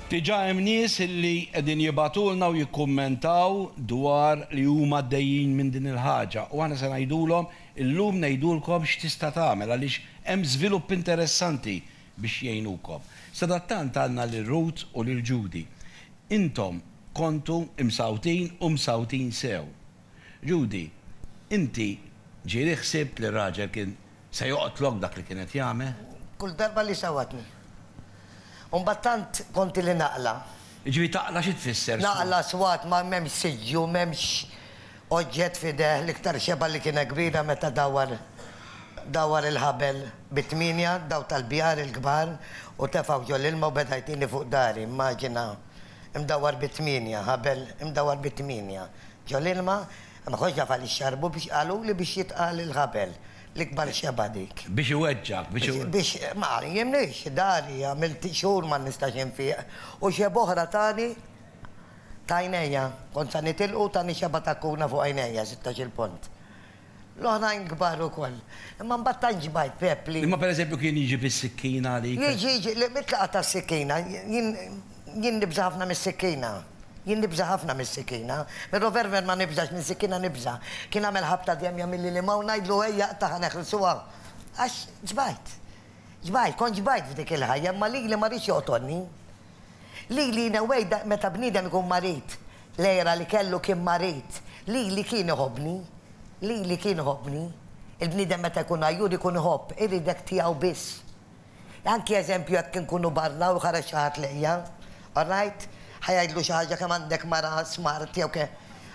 Diġà hemm nies illi qegħdin jibgħatulna u jikkummentaw dwar li huma għaddejjin minn din il-ħaġa u aħna se ngħidulhom illum ngħidulkom x'tista' tagħmel għaliex hemm żvilupp interessanti biex jgħinukom. Sadattant għandna lil Ruth u lil Judy. Intom kontu msawtin u msawtin sew. Judy, Inti ġieli ħsibt li r-raġel kien se joqtlok b'dak li kien qed jagħmel? Kull darba li sawatni. U mbagħad tant konti li naqla'. Jiġifieri taqla' xi tfisser swat? Naqla' swat ma m'hemmx siġġu, m'hemmx oġġett f'idejh, l-iktar xebgħa li kienet kbira meta dawwar dawwar il-ħabel bi tmienja, daw tal-bjar il-kbar u tefgħu ġol-ilma u beda jtini fuq dari. Immaġina. imdawwar bi tmienja, ħabel imdawwar bi tmienja ġol-ilma, imħoġġa f'għal ix-xarbu biex qaluli biex jitqal il-ħabel. L-ikbar xebgħa dik. Biex iweġġgħek, biex iweġġgħek. Biex, ma għallimnix, dari, għamilt xhur ma nistax infieq, u xebgħa oħra tani ta' għajnejja. Kont sa nitilqu u tani xebgħa ta' kuna fuq għajnejja, sittax-il punt. L-oħrajn kbar ukoll. Imma mbagħad tant ġbajt Pepp li. Imma pereżempju kien jiġi bis-sikkina għalik? Jiġi, jiġi, le mit-tlaqgħa tas-sikkina, jien, jien nibża' ħafna mis-sikkina. Jien nibża' ħafna mis-sikkina. Mir-roverver ma nibżax, mis-sikkina nibża'. Kien għamel ħabta dejjem jagħmilli l-imgħa u ngħidlu ejja aqtagħha neħilsuha. Għax ġbajt. Ġbajt, kont ġbajt f'dik il-ħajja, imma lili ma riedx joqtolni. Lili in a way da meta bniedem ikun marid, l-għira li kellu kien marid, lili kien iħobbni, lili kien iħobbni. Il-bniedem meta jkun għajjur ikun iħobb, iridek tiegħu biss. Anki eżempju jekk inkunu barra u jħares xi ħadd lejja, alright, ħa jgħidlu xi ħaġa kemm għandek mara smart jew ke.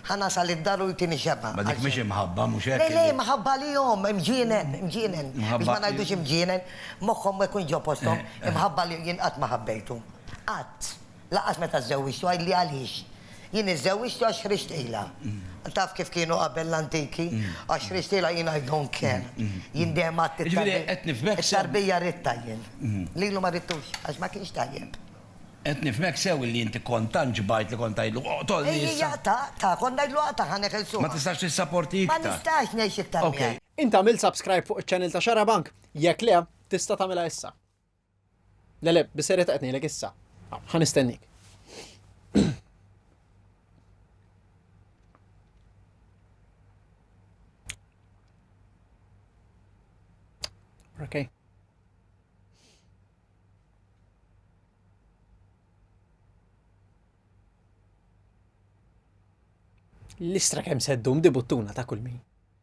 Ħa nasal id-dar u jtini xebgħa. Ma dik mhix imħabba, mhux hekk? Le, le, imħabba għalihom, imġienen, imġienen. Biex ma ngħidux imġienen, moħħhom ma jkunx ġo posthom, imħabba li jien qatt ma ħabbejtu. Qatt. Lanqas meta żżewwiġtu, għidli għaliex. Jien iżżewwiġtu għax ħriġtilha. Taf kif kienu qabel l-antiki? Għax ħriġtilha jien I don't care. Jien dejjem għedt it-tarbija. Jiġifieri qed nifhmek sew. It-tarbija ridtha jien. Lilu ma ridtux, għax ma kienx tajjeb. Qed nifhmek sew illi inti kont tant ġbajt li kont tgħidlu, Oqtolni issa! Ejji jaqtaq, ta, kont ngħidlu aqtagħ ħa neħel suha. Ma tistax tissaporti iktar. Ma nistax ngħix iktar miegħek. Ok. Int għamilt subscribe fuq iċ-channel ta' Xarabank? Jekk le, tista' tagħmilha issa. Le le, bis-serjetà qed ngħidlek issa. Ħa nistennik. Okay. L-istra kemm seddum di buttuna ta' kull min.